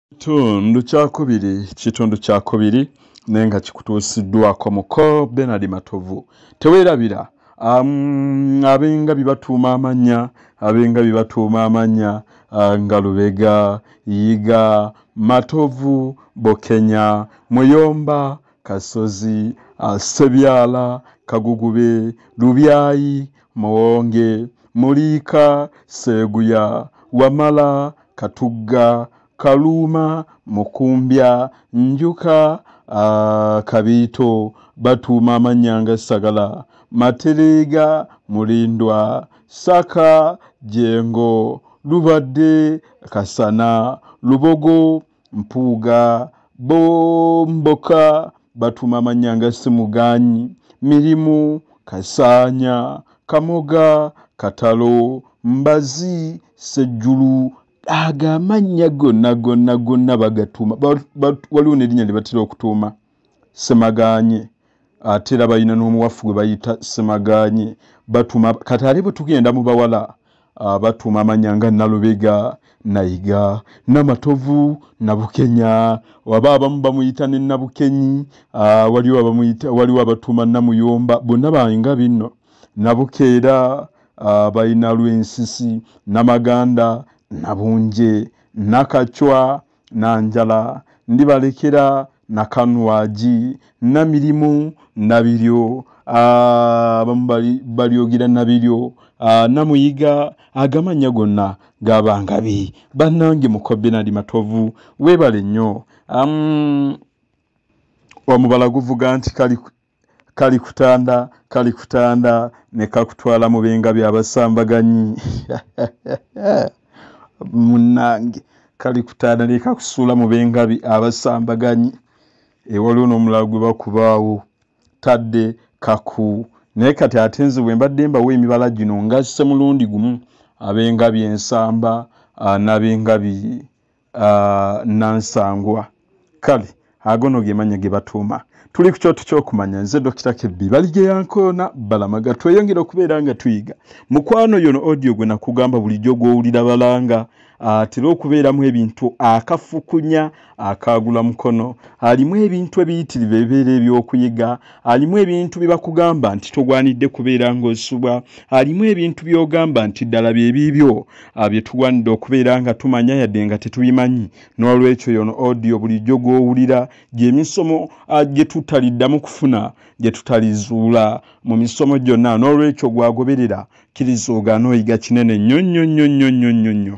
Kitundu kyakubiri kitundu kyakubiri naye nga kikutuusiddwako muko Benard Matovu teweerabira um, abenga bibatuuma amannya abenga bibatuuma amannya uh, nga Lubega Yiga Matovu Bokenya Muyomba Kasozi uh, Sebyala Kagugube Lubyayi Muwonge, Muliika, Sseeguya, Wamala, Katugga, Kaluuma, Mukumbya, Njuka, Kabiito, batuuma amannya nga Ssagala, Matereega, Mulindwa, Ssaka, Jjengo, Lubadde, Kasana, Lubogo, mpuuga bomboka batuma manya nga simuganyi mirimu kasaanya kamoga katalo mbazi sejjulu ago amannya gonna gonna gonna bagatuma waliwo nerinnya lyebatera okutuuma ba, ba, semaganye ate era balina n'omuwafu gwe bayita semaganye batuma kati ate bwe tugenda mu bawala ah, batuma amanya nga nalubega nayiga namatovu nabukenya waba abamu bamuyita ne nabukenyi ah, waliwo abamuyita waliwo abatuma namuyomba bonna bainga binno nabukeera ah, balina lwensisi namaganda nabunje nakacwa na njala ndibalekera na kanwagi na mirimu na biryo abamu balyogera na biryo namuyiga agamannya gonna gabangabi bannange mukobenadi matovu weebale nnyo omubala guvuga nti kali kalikutanda kalikutanda ne kakutwala mu binga byabasambaganyi munange kalikutanda ne kakusuula mu bengabi abasambaganyi ewaliwo n'omulala gwe bakubaawo tadde kaku naye kati ate nze bwe mbadde mbawo emibala gino ngasse mulundi gumu abengabi ensamba ah, n'abengabi uh, nansangwa kale agono gemanya gebatuuma tuli ku kyoto kyokumanya nze dokita kebbi baligeyankoona balamaga tweyongera okubeera nga tuyiga mukwano yono odio gwe nakugamba bulijjo gwowulira balanga atera okubeeramu ebintu akafukunya akaagula mukono alimu ebintu ebiyitirivu ebibeera ebyokuyiga alimu ebintu bye bakugamba nti togwanidde kubeera ng'osubwa alimu ebintu by'ogamba nti ddala bye biibyo ah, bye tugwanidde okubeera nga tumanya yadde nga tetubimanyi n'olwekyo yono odiyo bulijjo gw'owulira gyemisomo ah, gye tutaliddamu kufuna gye tutalizuula mu misomo gyonna n'olwekyo gwagoberera kiriza ogaana oyiga kinene nnyo nnyo nnyo nnyo nnyo nnyo nnyo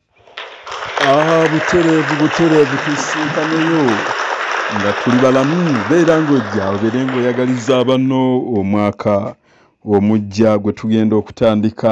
Ah, butereevu butereevu tusiikanyeyo nga tuli balamu beera ng'ojja obeere ng'oyagaliza abanno omwaka omujja gwe tugenda okutandika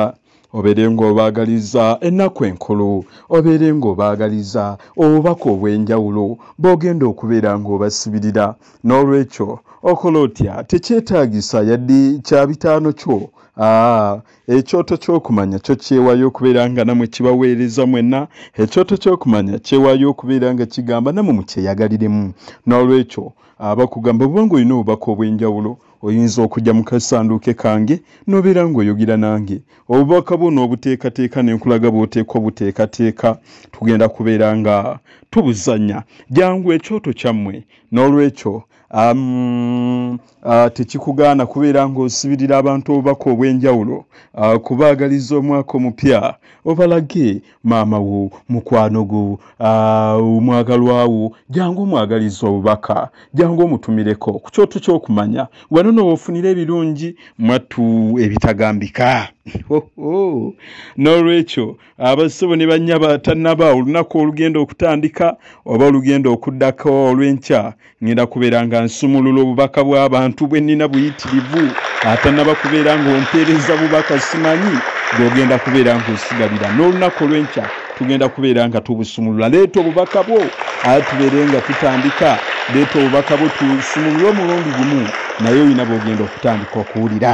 obeere ng'obaagaliza ennaku enkulu obeere ng'obaagaliza obubaka obw'enjawulo b'ogenda okubeera ng'obasibirira n'olwekyo okola otya tekyetaagisa yadde kya bitaano kyo aa ah, Ekyoto ky'okumanya kyo kyewayo okubeera nga namwe kibaweereza mwenna. Ekyoto ky'okumanya kyewayo okubeera nga kigamba namwe mukyeyagaliremu. N'olwekyo abakugamba bwoba ng'olina obubaka obw'enjawulo oyinza okujja mu kasanduuke kange n'obeera ng'oyogera nange. Obubaka bwo n'obuteekateeka ne nkulaga bw'oteekwa obuteekateeka. Tugenda kubeera nga tubuzannya. Jangu ekyoto kyammwe. N'olwekyo. um, uh, tekikugaana kubeera ng'osibirira abantu obubaka obw'enjawulo uh, kubaagaliza omwaka omupya obalage maama wo mukwano gwo uh, omwagalwawo uh, jangu omwagaliza obubaka jangu omutumireko ku kyoto ky'okumanya wano noofunira ebirungi mwattu ebitagambika n'olwekyo abassebo ne bannyaba tannaba olunaku olugenda okutandika oba olugenda okuddako olw'enkya ngenda kubeera nga nsumulula obubaka bw'abantu bwe nnina buyitirivu atannaba kubeera ng'ompeereza bubaka simanyi gw'ogenda kubeera ng'osigalira n'olunaku olw'enkya tugenda kubeera nga tubusumulula leeta obubaka bwo aa tubeere nga tutandika leeta obubaka bwo tusumulule omulundi gumu naye olina bw'ogenda okutandika okuwulira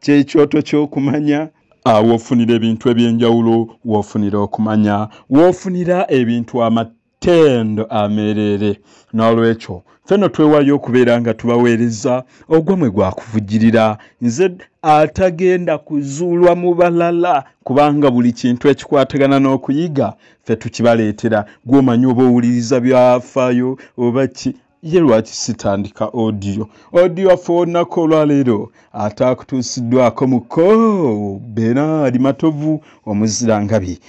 kyekyoto kyokumanya ah, wofunira ebintu ebyenjawulo wofunira okumanya wofunira ebintu amatendo amereere n'olwekyo feno twewayo okubeera nga tubaweereza ogwamwe gwakuvujirira nze atagenda kuzuulwa mu balala kubanga buli kintu ekikwatagana n'okuyiga fe tukibaleetera gwomanyi oba owuliriza byafaayo oba ki ye lwaki sitandika odiyo odiyo waffe olunaku olwaleero ataakutuusiddwako muko beraali matovu omuzirangabi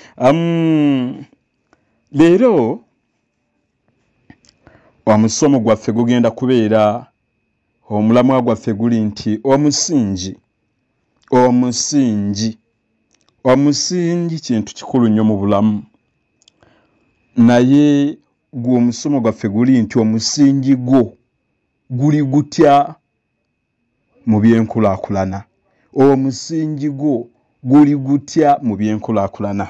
leero omusomo gwaffe gugenda kubeera omulamwa gwaffe guli nti omusingi omusingi omusingi kintu kikulu nnyo mu bulamu naye gwe omusomo gwaffe guli nti omusingi gwo guli gutya mu byenkulakulana omusingi gwo guli gutya mu byenkulakulana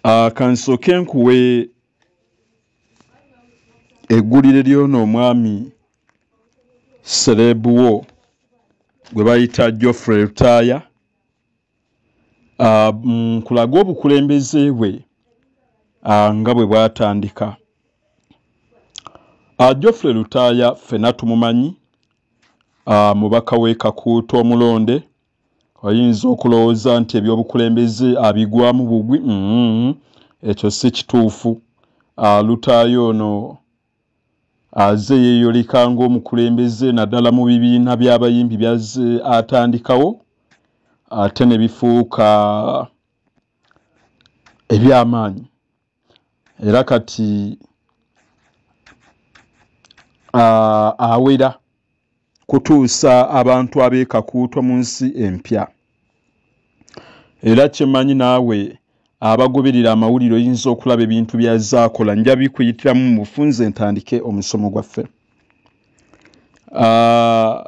ah, kansooke nkuwe eggulire lyona omwami sereebuwo gwe bayita geoffrey lutaaya ah, nkulaga mm, obukulembeze bwe ah, nga bwe bwatandika ah, geoffrey lutaaya ffena tumumanyi mubaka w'ekakuuta omulonde oyinza okulowooza nti ebyobukulembeze abigwamu bugwi mm-hmm. ekyo si kituufu lutaaya ono Aze yeeyoleka ng'omukulembeze naddala mu bibiina by'abayimbi by'azze atandikawo ate ne bifuuka eby'amaanyi era kati awera. kutuusa abantu ab'e Kakuuto mu nsi empya. Era kye mmanyi naawe abagoberera amawulire oyinza okulaba ebintu byazaakola nja bikuyitiramu mu bufunze entandike omusomo gwaffe. Ah,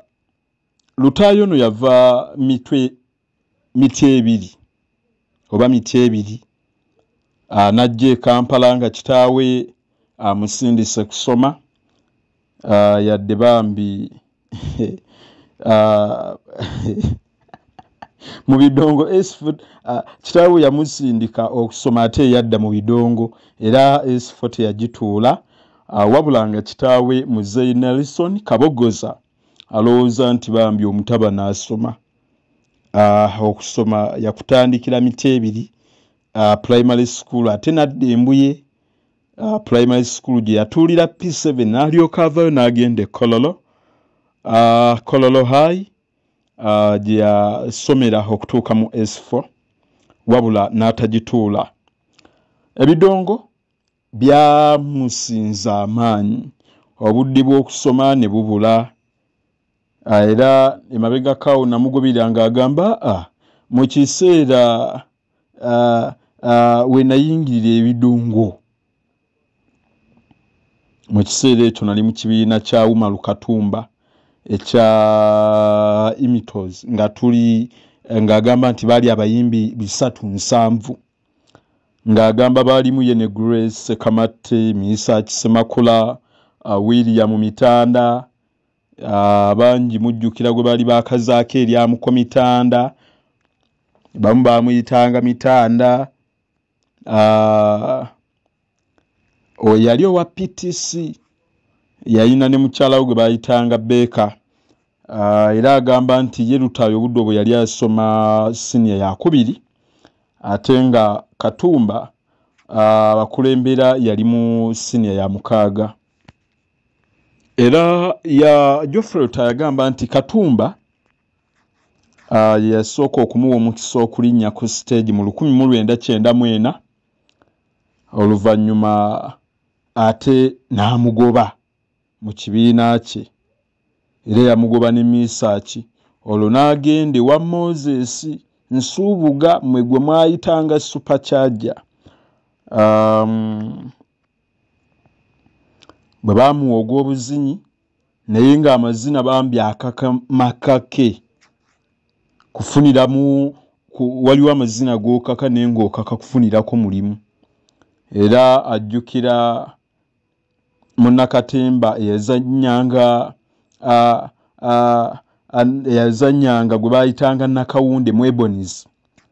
Lutaayo ono yava mitwe miti ebiri oba miti ebiri anajja e kampala nga kitaawe amusindise kusoma ah, yadde bambi ah, mu bidongo ah, kitaawe yamusindika okusoma ate eyadda mu bidongo era esifo teyagituula wabula nga kitaawe muzeyi nelson kabogoza alowooza nti bambi omutabani asoma uh, okusoma yakutandikira mitebiri uh, primary school ate nadda embuye uh, primary school gye yatuulira p7 nalyoka avayo n'agenda ekololo uh, kololo high uh, gye yasomera okutuuka mu s4 wabula n'atagituula ebidongo byamusinza amaanyi obudde bw'okusoma ne bubula ah, era emabegakaawo namugobera ng'agamba a ah, mu kiseera ah, we nayingirira ebidungo mu kiseera ekyo nali mu kibiina kya umaru katumba ekya imitos nga tuli ng'agamba nti baali abayimbi bisatu nsanvu ng'agamba baalimu ye ne Grace Ssekamatte, Miisaaki Ssemakula, uh, William Mitanda uh, bangi mujjukira gwe baali baakazaako eryamuko Mitanda bamu baamuyitanga Mitanda uh, oyo yali owa ptc yalina ne mukyala we gwe bayitanga beeka ah, era agamba nti ye lutaayo obudde obwe yali asoma siniya yakubiri ate nga katumba ah, abakulembera yali mu siniya ya mukaaga era ya jofrey lutayo yagamba nti katumba ah, yasooka okumuwa omukisa okulinnya ku siteegi mu lukumi mu lwenda kyenda mwena oluvannyuma ate n'amugoba mu kibiina kye era yamugoba ne misaaki olwo n'agenda ewa moses nsuubuga mwe gwe mwayitanga supacharge um, bwe baamuwa ogw'obuzinyi naye nga amazina bambi akaka makake kufuniramu ku, waliwo amazina gokaka naye ngaokaka kufunirako mulimu era ajjukira munakatemba eyazanyanga eyazanyanga gwe bayitanga nakawunde mwebonizi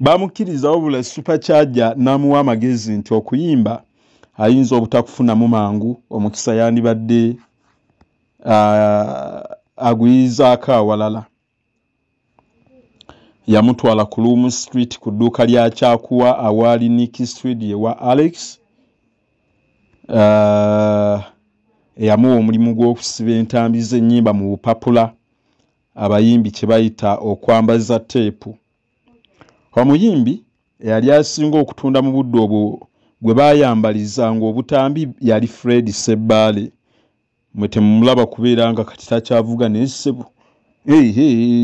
bamukkiriza wabula supacharja n'amuwa amagezi nti okuyimba ayinza obutakufunamu mangu omukisa yandibadde aguyizaako awalala yamutwala ku loom street ku dduuka lya kyakuwa awaali niki street ewa alex eyamuwa omulimu gw'okusiba entambi z'ennyimba mu bupapula abayimbi kye bayita okwambaza teepu omuyimbi eyali asinga okutunda mu budde obwo gwe baayambaliza ng'obutambi yali fred sebbaale mwe temumulaba kubeera nga kati takyavuga naye ssebo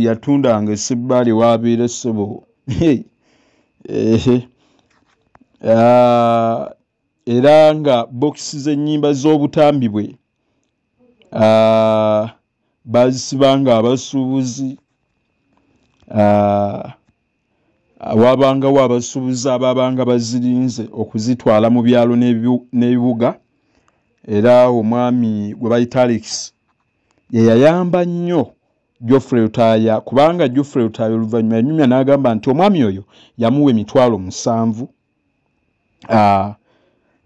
yatundanga esebbaale waabeera ssebo ehe ah, era nga bokisi z'ennyimba z'obutambi bwe ah, baazisibanga abasuubuzi ah, waabangawo abasuubuzi abaabanga bazirinze okuzitwala mu byalo n'ebibuga era omwami gwe bayita alex yeyayamba nnyo jofrey lutaaya kubanga jofrey lutaaya oluvannyuma yanyumya n'agamba nti omwami oyo yamuwa emitwalo musanvu uh,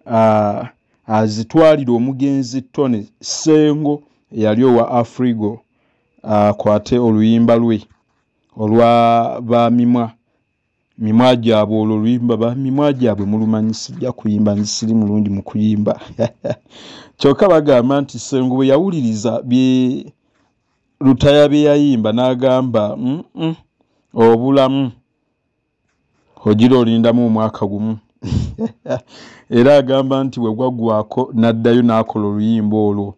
uh, azitwalira omugenzi tony sengo eyali owa afrigo akwate uh, oluyimba lwe olwa bamimwa mimwa gyabwe olwo oluyimba bamimwa gyabwe mulumanyi sijja kuyimba nzisiri mulungi mu kuyimba kyokka bagamba nti sengo bwe yawuliriza bye lutaya bye yayimba n'agamba mm -mm, obulamu ogira olindamu omwaka gumu era agamba nti bwe gwaggwako n'addayo n'akola oluyimba olwo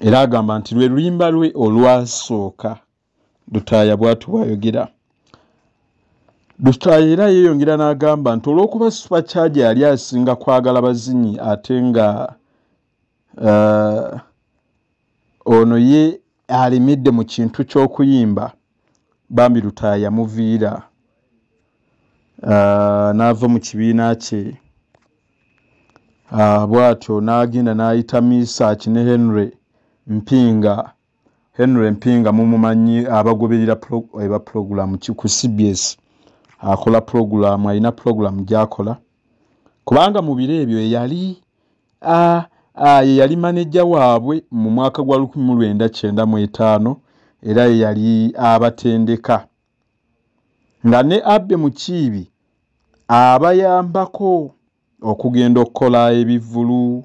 era agamba nti lwe luyimba lwe olwasooka lutaaya bwatu bwayogera lutaaya era yeeyongera n'agamba nti olw'okuba supacharge yali asinga kwagala bazinyi ate nga uh, ono ye alimidde mu kintu ky'okuyimba bambi lutaaya yamuviira uh, n'ava mu kibiina kye uh, bw'atyo n'agenda n'ayita misaaki ne henry mpinga Henry Mpinga mumumanyi abagoberera eba eh, pulogulaamu ku CBS akola pulogulaamu alina pulogulaamu gyakola kubanga mu biro ebyo eyali ye yali maneja waabwe mu mwaka gwa 1995 era ye yali abatendeka nga ne abbe mukiibi abayambako okugenda okukola ebivulu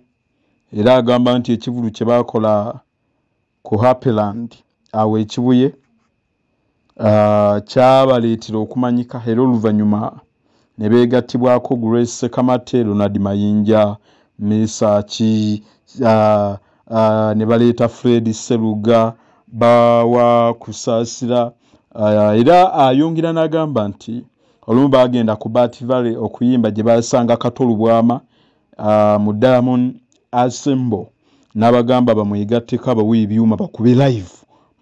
era agamba nti ekivulu kye baakola ku happyland awo ekibuye ah, kyabaleetera okumanyika era oluvannyuma ne beegattibwako grace sekamate ronald mayinja mesaki ah, ah, ne baleeta fred seruga bawa kusaasira era ayongera n'agamba nti olumu baagenda ku bat valley okuyimba gye basanga katolubwama uh, mu diamond asembo n'abagamba bamwegatteko abawe ebyuma bakube live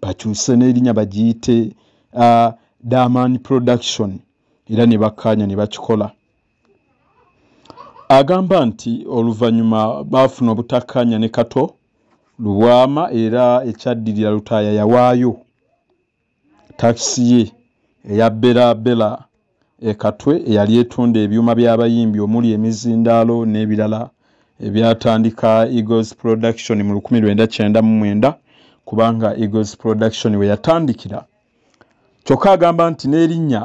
bakyuse n'erinya bagiyite uh, diamond production era ne bakkaanya ne bakikola agamba nti oluvannyuma baafuna obutakkaanya ne kato lubwama era ekyaddirira lutaaya yawaayo Takisi ye eya Bella Bella e Katwe eyali etunda ebyuma by'abayimbi omuli emizindaalo n'ebirala ebyatandika Eagles Production mu lukumi lwenda kyenda mu mwenda kubanga Eagles Production we yatandikira. Kyokka agamba nti n'erinnya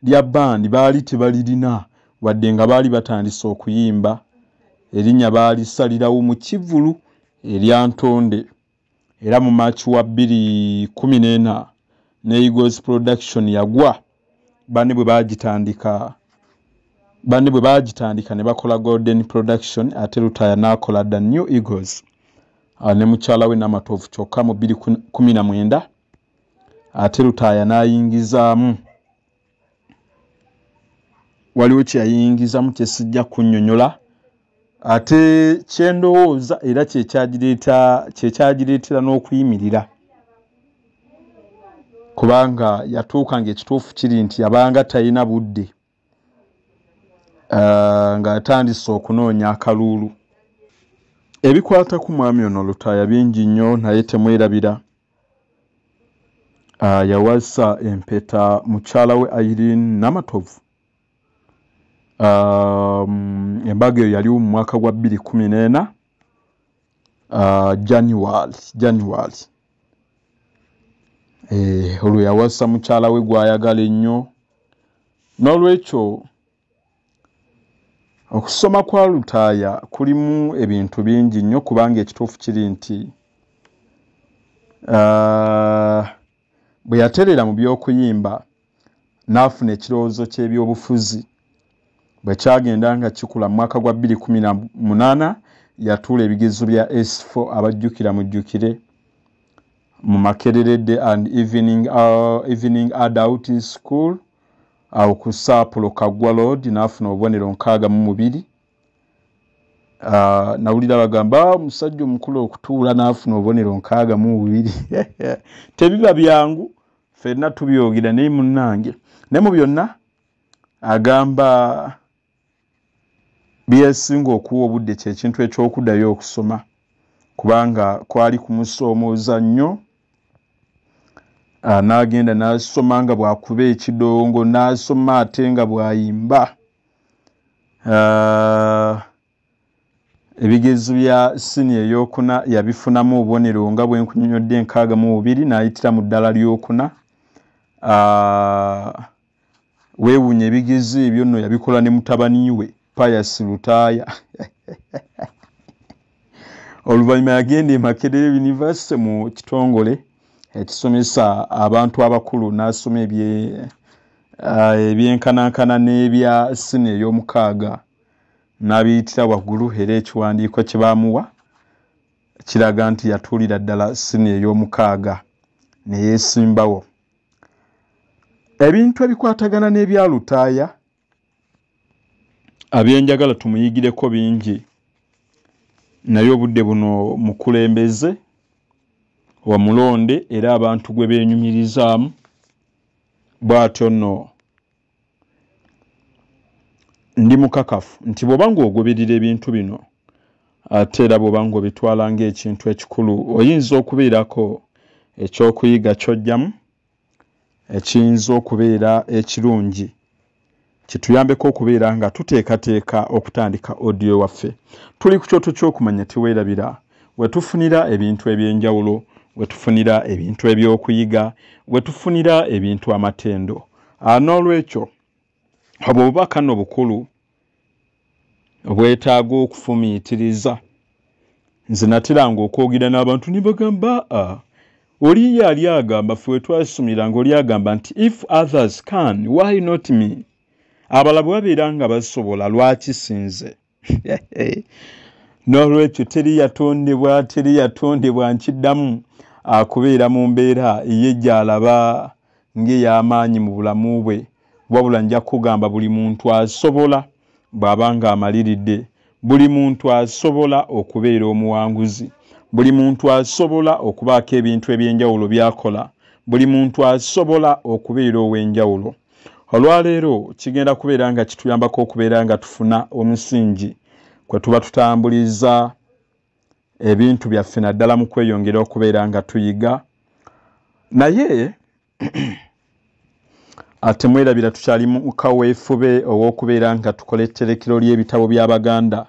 lya bbandi baali tebalirina wadde nga baali batandise okuyimba erinnya baalisalirawo mu kivvulu erya Ntonde. era mu march wa 214 ne egos production yagwa bani bwe bagitandika bani bwe bagitandika ne bakola golden production ate lutaya n'akola the new egos ah, ne mukyala we namatovu kyokka mu 219 ate lutaya n'ayingizaamu waliwo kyeyayingizamu kyesijja kunyonyola ate kyendowooza era kyekyagireeta kyekyagireetera n'okuyimirira kubanga yatuuka nga ekituufu kiri nti yabanga talina budde ah, nga atandise okunoonya akaluulu ebikwata ku mwami ono lutaaya bingi nnyo naye temwerabira Ah, yawasa empeta mukyala we Irene Namatovu um, embaga eyo yaliwo mu mwaka gwa bbiri kumi n'ena uh, January January eh, olwo yawasa mukyala we gwayagala ennyo n'olwekyo Okusoma kwa Lutaaya kulimu ebintu bingi nnyo kubanga ekituufu kiri nti uh, bwe yaterera mu by'okuyimba n'afuna ekirowoozo ky'ebyobufuzi bwe kyagenda nga kikula mu mwaka gwa 218 yatuula ebigezo bya s4 abajjukira mujjukire mu makererede and evening, uh, evening adult school awo ku saapulo kaggwa loodi n'afuna obubonero nkaaga mu mubiri Ah, nawulira bagamba ah, omusajja omukulu okutuula n'afuna obubonero nkaaga mu bubiri tebiba byangu fenna tubyogera naye munnange naye mu byonna agamba byesinga okuwa obudde kyekintu ekyokudayo okusoma kubanga kwali kumusoomooza nnyo ah, n'agenda n'asoma nga bwakuba ekidongo n'asoma ate nga bwayimba ah, ebigezo bya sini eyokuna yabifunamu obubonero nga bwenkunyonyodde enkaaga mu bubiri n'ayitira mu ddala lyokuna ah, weewunya ebigezo ebyo nno yabikola ne mutabani we payas lutaaya oluvannyuma yagenda emakerere univesity mu kitongole ekisomesa abantu abakulu n'asoma ah, ebyenkanankana n'ebya sini ey'omukaaga n'abiyitira waggulu era ekiwandiiko kye baamuwa kiraga nti yatuulira ddala sini ey'omukaaga ne yeesimbawo ebintu ebikwatagana n'ebya lutaaya abyenjagala tumuyigireko bingi naye obudde buno mukulembeze wamulonde era abantu gwe beenyumirizaamu bw'atyo nno ndi mukakafu nti bwoba ng'ogoberera ebintu bino ate era bwoba ng'obitwala ng'ekintu ekikulu oyinza okubeerako ekyokuyiga kyojjamu ekiyinza okubeera ekirungi kituyambeko okubeera nga tuteekateeka okutandika odiyo waffe tuli ku kyoto ky'okumanya teweerabira wetufunira ebintu eby'enjawulo wetufunira ebintu eby'okuyiga wetufunira ebintu amatendo ah, n'olwekyo obwo bubaka no bukulu obwetaaga okufumiitiriza nze nateranga okwogera n'abantu ne bagamba a ah, oli ye ali agamba fe wetwasomera nga oli agamba nti if others can why not me abala bwe babeera nga basobola lwaki sinze n'olwekyo teri yatondebwa teri yatondebwa nkiddamu akubeera mu mbeera ye gy'alaba ng'ey'amaanyi mu bulamu bwe wabula nja kukugamba buli muntu asobola bw'aba ng'amaliridde buli muntu asobola okubeera omuwanguzi buli muntu asobola okubaako ebintu eby'enjawulo by'akola buli muntu asobola okubeera ow'enjawulo olwaleero kigenda kubeera nga kituyambako okubeera nga tufuna omusingi kwe tuba tutambuliza ebintu byaffe naddala mu kweyongera okubeera nga tuyiga naye ate mwerabira tukyali mu kaweefube ow'okubeera nga tukola etterekero ly'ebitabo by'abaganda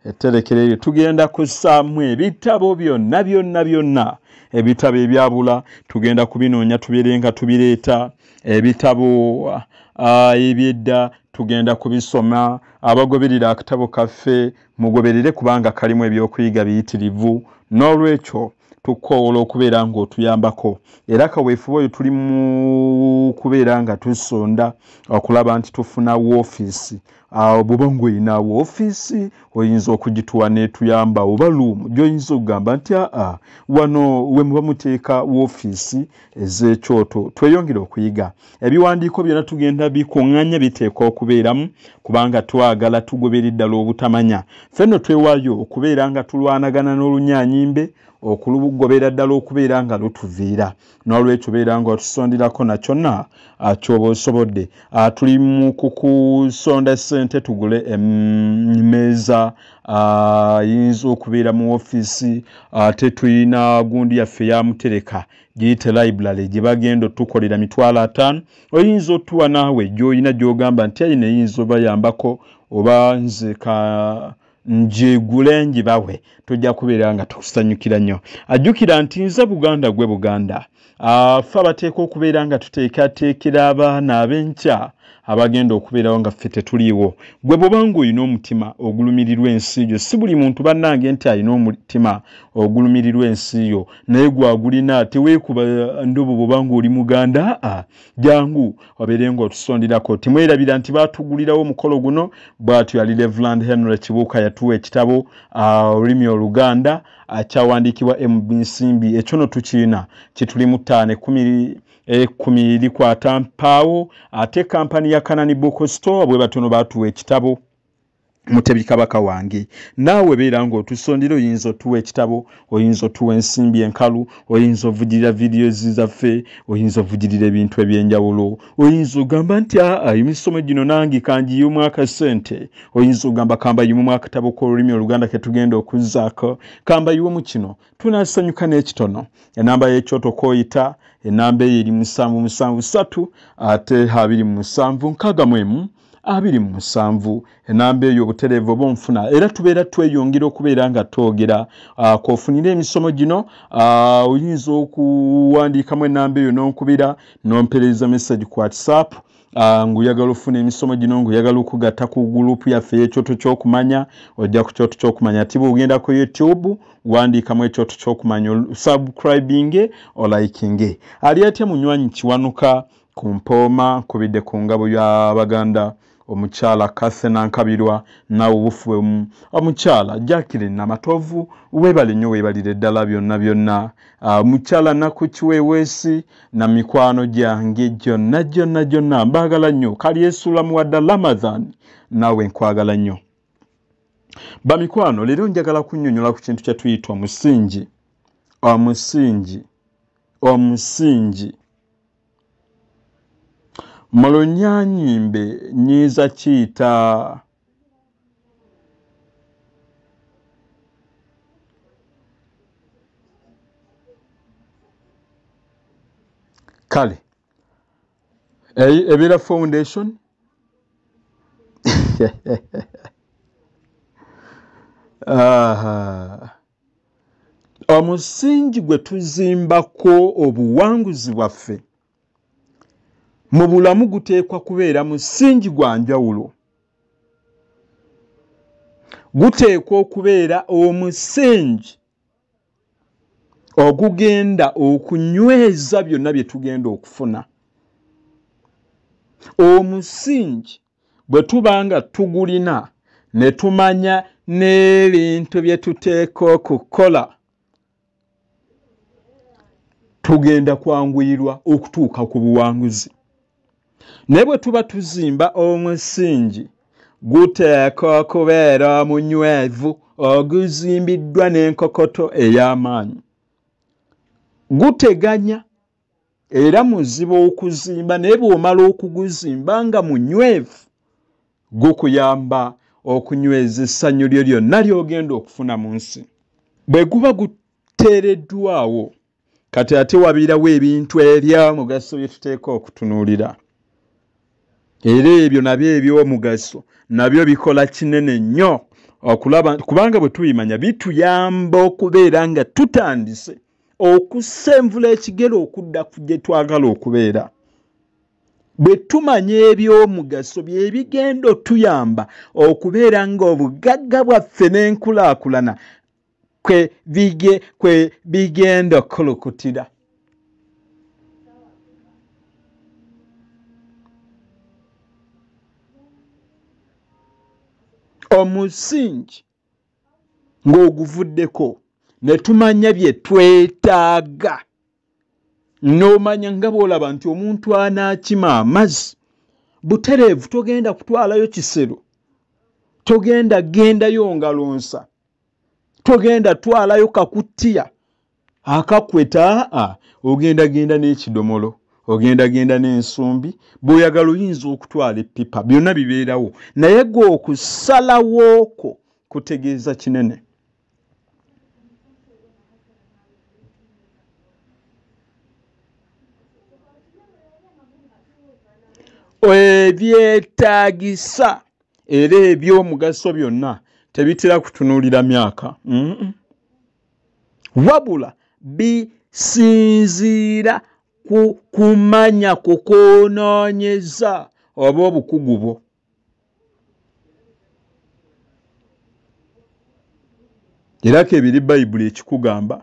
etterekero eryo tugenda kussaamu ebitabo byonna byonna byonna ebitabo ebyabula tugenda kubinoonya tubeere nga tubireeta ebitabo ah, ebyedda tugenda kubisoma abagoberera akatabo kaffe mugoberere kubanga kalimu ebyokuyiga biyitirivu n'olwekyo tukoowola okubeera ng'otuyambako era kaweefube oyo tuli mu kubeera nga tusonda okulaba nti tufuna woofiisi awo bwoba ngaolina woofiisi oyinza okugituwa netuyamba oba luumu gyoyinza okugamba nti aa wano wemuba muteeka woofiisi ez'ekyoto tweyongere okuyiga ebiwandiiko byona tugenda bikuŋŋanya biteekwa okubeeramu kubanga twagala tugobere ddala obutamanya fenno twewaayo okubeera nga tulwanagana n'olunyanyimbe okulugobera ddala okubeera nga lutuviira nolwekyo beeranga otusondirako nakyona ah, kyoba osobodde ah, tuli mu kukusonda sente tugule emeeza ah, yinza okubeera mu ofiisi ate tulina gundi yaffe yamutereka giyite library gye bagenda otukolera mitwalo ataano oyinza otuwa naawe gyolina gyogamba nti ayina eyinza obayambako oba nze ka njigule njibawe tujja kubeera nga tukusanyukira nnyo ajjukira nti nze buganda gwe buganda afe abateeka okubeera nga tuteekateekera abaana ab'enkya abagenda okubeerawo nga ffe tetuliiwo gwe bwobanga olina omutima ogulumirirwa ensi yo si buli muntu bannange nti alina omutima ogulumirirwa ensi yo naye gwagulina teweekuba ndobo bwobanga oli muganda jangu obeere ng'otusondirako timwerabira nti baatugulirawo omukolo guno bw'atyo yali revuland henry kibuuka yatuwa ekitabo ah, olulimi oluganda ah, kyawandiikibwa mb nsimbi ekyo no tukiina kituli mu ttaano ekumi ekumi eh, likwata mpaawo ate kampani ya kanani book store bwe batono baatuwa ekitabo mutebi kabaka wange naawe beera ng'otusondera oyinza otuwa ekitabo oyinza otuwa ensimbi enkalu oyinza ovugirira videos zaffe oyinza ovugirira ebintu eby'enjawulo oyinza ogamba nti aa emisomo gino nange kangiyimu akasente oyinza ogamba kambayimu mu akatabo k'olulimi oluganda ke tugenda okuzzaako kambayiwe mu kino tunasanyuka n'ekitono enamba y'ekyoto kooyita enamba eyo eri musanvu musanvu satu ate abiri mu musanvu nkaaga mu emu abiri mu musanvu enamba eyo obutereevu oba onfuna era tubeera tweyongera okubeera nga twogera ah, kofunire emisomo gino ah, oyinza okuwandiikamu enamba eyo n'onkubira n'ompereeza message ku whatsapp Ah, nguyagala ofuna emisomo gino nguyagala okugata ku gulupu yaffe yekyoto kyokumanya ojja ku kyoto kyokumanya tiba ogenda ku youtube wandiikamu ekyoto kyokumanya subcribinge olikinge ali atya munywanyi kiwanuka Ku mpooma nkubidde ku ngabo ya Baganda omukyala Cathy Nankabirwa naawe obufuwemu omukyala Jacqueline Namatovu weebale nnyo weebalire ddala byonna byonna ah, mukyala Naku Kiweeweesi na mikwano gyange gyonna gyonna gyonna mbaagala nnyo kalyesuulamu wadda Ramadhan naawe nkwagala nnyo bamikwano leero njagala kunnyonnyola ku kintu kye tuyita omusingi omusingi omusingi mu lunyanyimbe nyinza kiyita kale ebeera foundation uh, omusingi gwe tuzimbako obuwanguzi bwaffe mu bulamu guteekwa kubeera musingi gwa njawulo guteekwa okubeera omusingi ogugenda okunyweza byonna bye tugenda okufuna omusingi bwe tuba nga tugulina ne tumanya n'ebintu bye tuteeka okukola tugenda kwanguyirwa okutuuka ku buwanguzi naye bwe tuba tuzimba omusingi guteeka okubeera omunywevu oguzimbiddwa n'enkokoto ey'amaanyi guteganya era muziba okuzimba naye bw'omala okuguzimba nga munywevu gukuyamba okunyweza essanyu lyo lyonna ly'ogenda okufuna mu nsi bwe guba guteereddwawo kati ate wabiirawo ebintu ebya mugaso bye tuteeka okutunuulira era ebyo nabyo ebyomugaso nabyo bikola kinene nnyo okulaba kubanga bwe tubimanya bituyamba okubeera nga tutandise okussa envula ekigere okudda ku gye twagala okubeera bwe tumanya eby'omugaso bye bigenda otuyamba okubeera ng'obugagga bwaffe n'enkulaakulana kwe bigenda okukulukutira omusingi ng'oguvuddeko ne tumanya bye twetaaga n'omanya nga bw'olaba nti omuntu anaakima amazzi butereevu togenda kutwalayo kisero togenda gendayo ngalonsa togenda twalayo kakuttiya akakweta a ogendagenda n'ekidomolo ogendagenda n'ensumbi bw'oyagala oyinza okutwala eppipa byonna bibeerawo naye gwe okusalawooko kutegeeza kinene ebyetaagisa era ebyomugaso byonna tebitera kutunuulira myaka mm -mm. wabula bisinziira ku kumanya ku kwonoonyeza oba obukugu bwo era kebiri bayibuli ekikugamba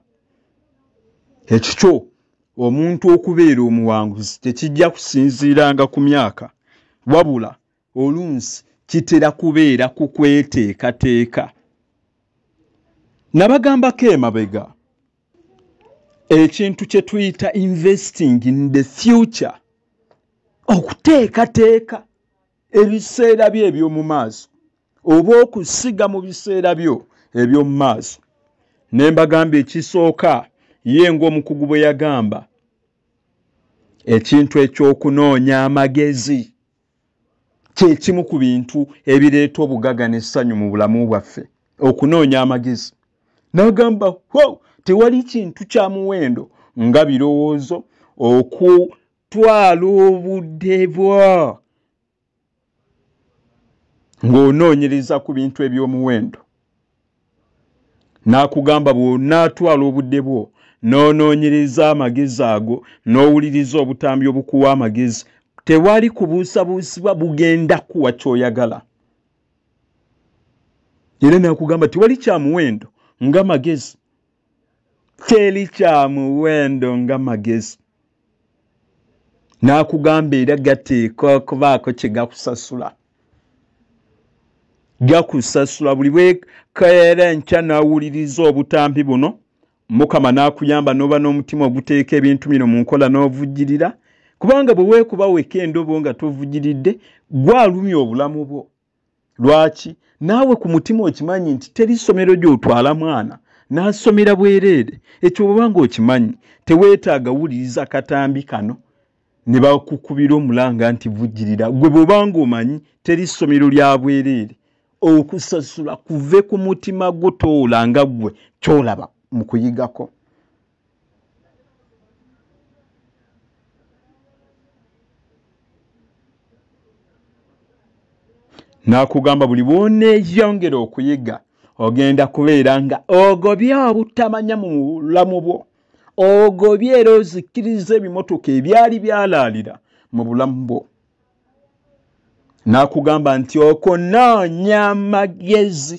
ekikyo omuntu okubeera omuwanguzi tekijja kusinziiranga ku myaka wabula olunsi kitera kubeera ku kweteekateeka nabagambako emabega ekintu kye tuyita investing in the future okuteekateeka ebiseera byo eby'omu maaso oba okusiga mu biseera byo eby'omu maaso ne mbagamba ekisooka ye ng'omukugu bwe yagamba ekintu eky'okunoonya amagezi kyekimu ku bintu ebireeta obugaga n'essanyu mu bulamu bwaffe okunoonya amagezi n'agamba ho tewali kintu kya muwendo nga birowoozo okutwala obudde bwa ng'onoonyereza ku bintu eby'omuwendo n'akugamba bw'onaatwala obudde bwo n'onoonyereza amagezi ago n'owuliriza obutambi obukuwa amagezi tewali kubuusabuusibwa bugenda kuwa ky'oyagala era n'akugamba tewali kya muwendo nga magezi teri kya muwendo nga magezi n'akugamba era gateekwa okubaako kye gakusasula gakusasula buli bwekaera enkya n'awuliriza obutambi buno mukama n'akuyamba n'oba n'omutima oguteeka ebintu bino mu nkola n'ovujjirira kubanga bwe weekuba weka endobo nga tovujiridde gwalumya obulamu bwo lwaki naawe ku mutima okimanyi nti teri ssomero gy'otwala mwana n'asomera bwereere ekyo bweba nga okimanyi teweetaaga wuliriza katambi kano ne bakukubira omulanga nti vujjirira gwe bweba nga omanyi teri ssomero lya bwereere okusasula kuve ku mutima gwo toola nga ggwe kyolaba mu kuyigako n'akugamba buli bwoneeyongera okuyiga ogenda kubeera nga ogobye obutamanya mu bulamu bwo ogobye era ozikkiriza ebimotoka ebyali byalaalira mu bulamu bwo n'akugamba nti okunoonya amagezi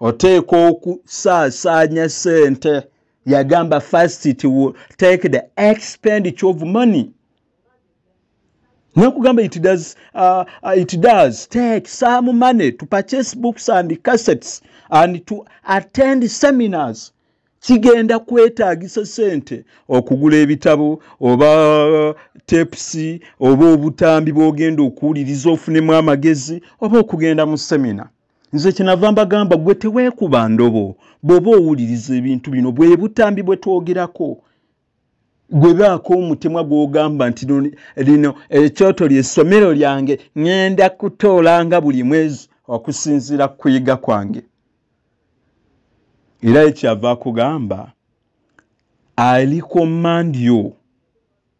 oteekwa okusaasaanya sente yagamba first it will take the expenditure of money nakugamba it does, uh, uh, it does take some money to purchase books and cassettes and to attend seminars kigenda kwetaagisa sente okugula ebitabo oba uh, tepsi oba obutambi bwogenda okuwuliriza ofunemu amagezi oba okugenda mu semina nze kyenava mbagamba gwe teweekuba ndobo bw'oba owuliriza ebintu bino bwe butambi bwe twogerako gwe baako omutemwa gw'ogamba nti lino ekyoto lyessomero lyange ŋŋenda kutoolanga buli mwezi okusinziira ku kuyiga kwange era ekyava akugamba ali ku mandio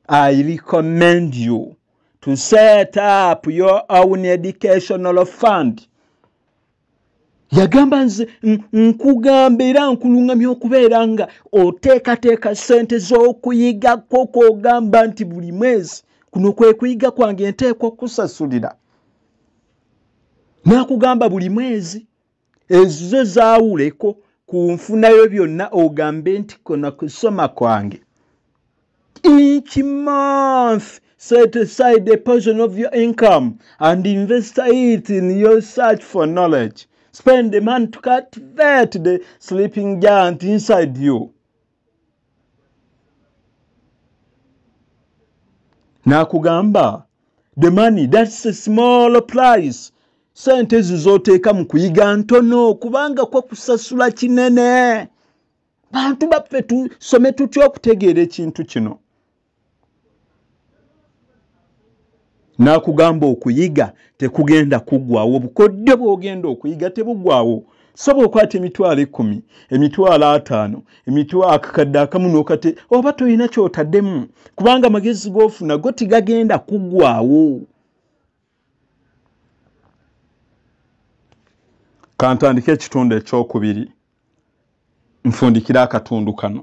I recommend you to set up your own educational fund. yagamba nze nkugamba era nkulungamya okubeera nga oteekateeka ssente z'okuyigako kwogamba nti buli mwezi kuno kwe kuyiga kwange nteekwa okukusasulira naakugamba buli mwezi ezizo zaawuleko ku nfunayo byonna ogambe nti kona kusoma kwange each month set aside a portion of your income and invest it in your search for knowledge spend the money to cultivate the sleeping giant inside you n'akugamba the money that's a small price sente ezo z'oteeka mu kuyiga ntono kubanga kwa kusasula kinene bantu baffe tusome tutya okutegeera ekintu kino n'akugamba okuyiga tekugenda kuggwawo obukodyo bw'ogenda okuyiga tebuggwawo soba okwata emitwalo ekkumi emitwalo ataano emitwakakadde akamu nokate oba tolina kyotaddemu kubanga amagezi gofuna go tigagenda kuggwawo kantandika ekitundu ekyokubiri nfundikira akatundu kano